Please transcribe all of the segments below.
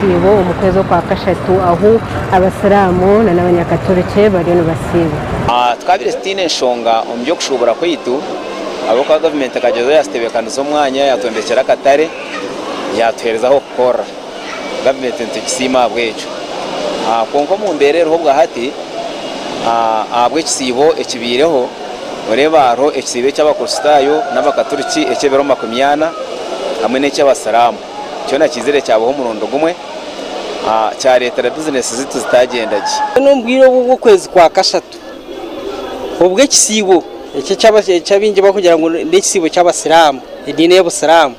Eisiibo omu kwezi okwa kashatu ahu Abasiraamu nana Abanyakaturiki bariyo nibasiiba. Tukaabaire tutaine nshonga omu by'okushuubura kwaitu ahabw'okuba gavumenti ekagyezaho yaatutebeekaniza omwanya, yaatwombekyera akatare, yaatuheereza ah'okukorera. Gavumenti nitugisiima ahabw'ekyo. Kwonka omu mbeera eriho bwa hati ahabw'ekisiibo ekibaireho, noreeba hariho ekisiibo eky'Abakristaayo n'Abakaturiki eky'ebiro makumi ana hamwe n'eky'Abasiraamu. Kyona kiizire kyabaho omurundi gumwe, kyareetera bizineesi zaitu zitaagyenda gye. Mbwenu omu bwire obwo bw'okwezi kwa kashatu, obwo ekisiibo eki abaingi barikugira ngu n'ekisiibo ky'Abasiraamu, ediini y'Obusiraamu,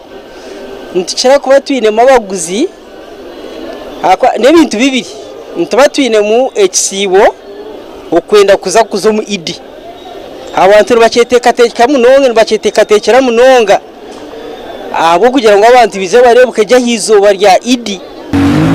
nitukira kuba twinemu abaguzi ahabw'okuba n'ebintu bibiri, nituba twinemu ekisiibo okwenda kuza kuza omu Idi. Abantu nibakyeteekateeka munonga, nibakyeteekateekyera munonga. ahabw'okugira ngu abantu baije bareebuke gye aha izooba rya Idi.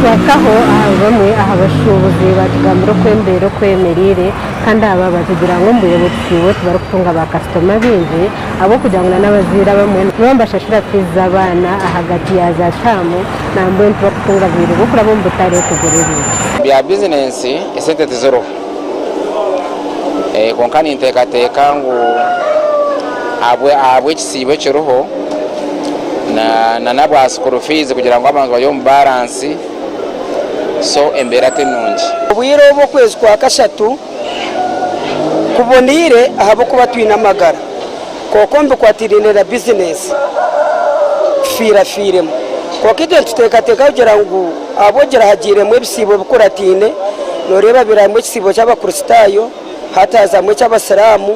Kwataho aha bamwe aha bashuubuzi baatugambira oku embeera oku eyemereire kandi abo abaatugira ngu omu bwire butihirwe tibarikutunga baakasitoma baingi ahabw'okugira ngu n'abazaire abamwe nibabaasa kubashashura fiizi z'abaana ahagati ya zaataamu nambwenu tibarikutunga bwire bw'okuraba omu butare kugura ebintu. Bya bizinensi, esente tiziriho. Kwonka ninteekateeka ngu ahabw'ekisiibo ekiriho n'ahabwa sikuuru fiizi kugira ngu abantu bari omu baaransi, so embeera ti nungi. Obwire obu okwezi kwa kashatu kuboneire ahabw'okuba twine amagara. kwonka omu bikwatiraine na bizineesi tufiirafiiremu. Kwonka itwe nituteekateeka kugira ngu ahabw'okugira hagiiremu ebisiibo bikurataine, nooreeba habeeramu ekisiibo ky'Abakristaayo, hati hazamu eky'Abasiraamu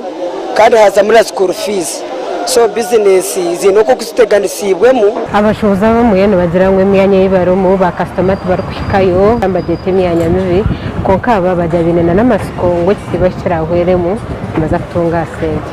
kandi hazamu na sikuuru fiizi. So bizineesi ziine nk'oku ziteganisiibwemu. Abashohozi abamwe nibagira ngu emyanya ei barimu baakasitoma tibarikuhikayo nibagyeta emyanya mibi. Kwonka aba bagya baine n'amatsiko ngu ekisiibo ahu kiraahweremu nibaza kutunga sente.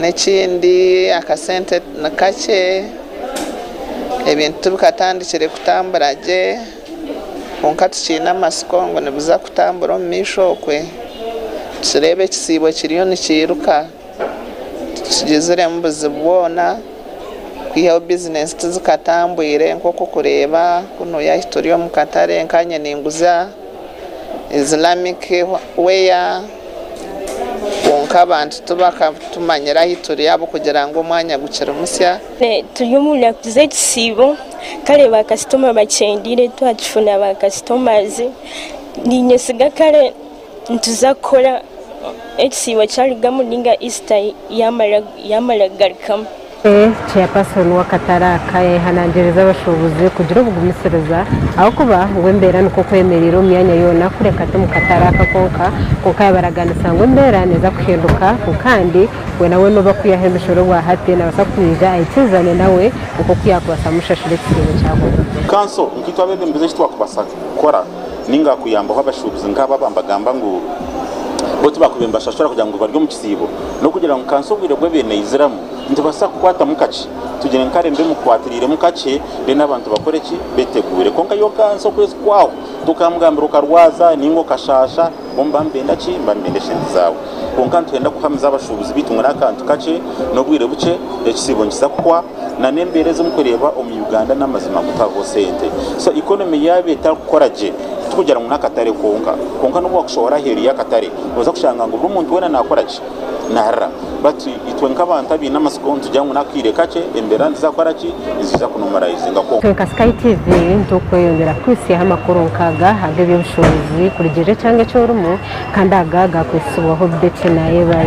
N'ekindi akasente nikakye, ebintu tibikatandikire kutambura gye kwonka tukiine amatsiko ngu nibiza kutambura omu maisho okwe. Nitureeba ekisiibo kiriyo nikiruka tikigiziremu buzibu bwona kwihaho bizinensi tizikatambwire nk'oku orikureeba kunu yahi turi omu katare nkanye ninguza. Islamic wear kwonka abantu tibakatumanyire ahu turi ahabw'okugira ngu omwanya gukiri musya. Turi omu naku z'ekisiibo kare ba kasitoma bakyendeire twakifuna ba kasitomazi niinyesiga kare nituza kukora ekisiibo kyarugamu nainga Isita yaamara kugarukamu. Chairperson w'akatare aka yayehanangiriza abashuubuzi kugira obugumisiriza ahabw'okuba ngu embeera nikwo kwemereire omu myanya yoona kureka ti mu katare aka konka kwonka yabaraganisa ngu embeera neeza kuhinduka ngu kandi weena weena ou bakwihaho emishoro bwa hati nabaasa kwija aikiriizane nawe nk'oku yaakubaasa kumushashura ekihingwa ekyahoire. Kanso, nkaitwe abebembezi eki twakubasa kukora. ninga kuyambaho abashuubuzi nk'abo abambagamba ngu bo tibakubaire nibashashura kugira ngu bari omu kisiibo n'okugira ngu kansi obwire bw'ebiire neiziramu nitubaasa kukwatamu kakye tugire ngu kare mbe mukukwatiriiremu kakye then abantu bakore ki? beteguure kwonka yo kansi okwezi kwahwa tokamugambira okarwaza ninga okashaasha Bo nibaba nibenda ki? Nibaba nibenda esente zaawe. Kwonka nitwenda kuhamiza abashuubuzi baitu ngu n'akantu kakye, n'obwire bukye, ekisiibo nikiza kuhwa. Na n'embeera ezi murikureeba omu Uganda n'amazima ngu tihariho sente. So economy yaaba etarikukora gye, tikugira ngu n'akatare kwonka. Kwonka n'obu waakushohora aheeru y'akatare, noza kushanga ngu buri omuntu weena naakora ki? Naharira bati itwe nk'abantu abaine amatsiko nitugira ngu n'akaire kakye embeera niziza kukora ki? Niziza kunomarayizinga kwonka. Twe nka Sky TV nitukweyongyera kukuhisyaho amakuru nk'aga ag'eby'obushoboorozi kurugiirira ekyanga eki orimu kandi aga agaakwetsibwaho Betty Nayebare.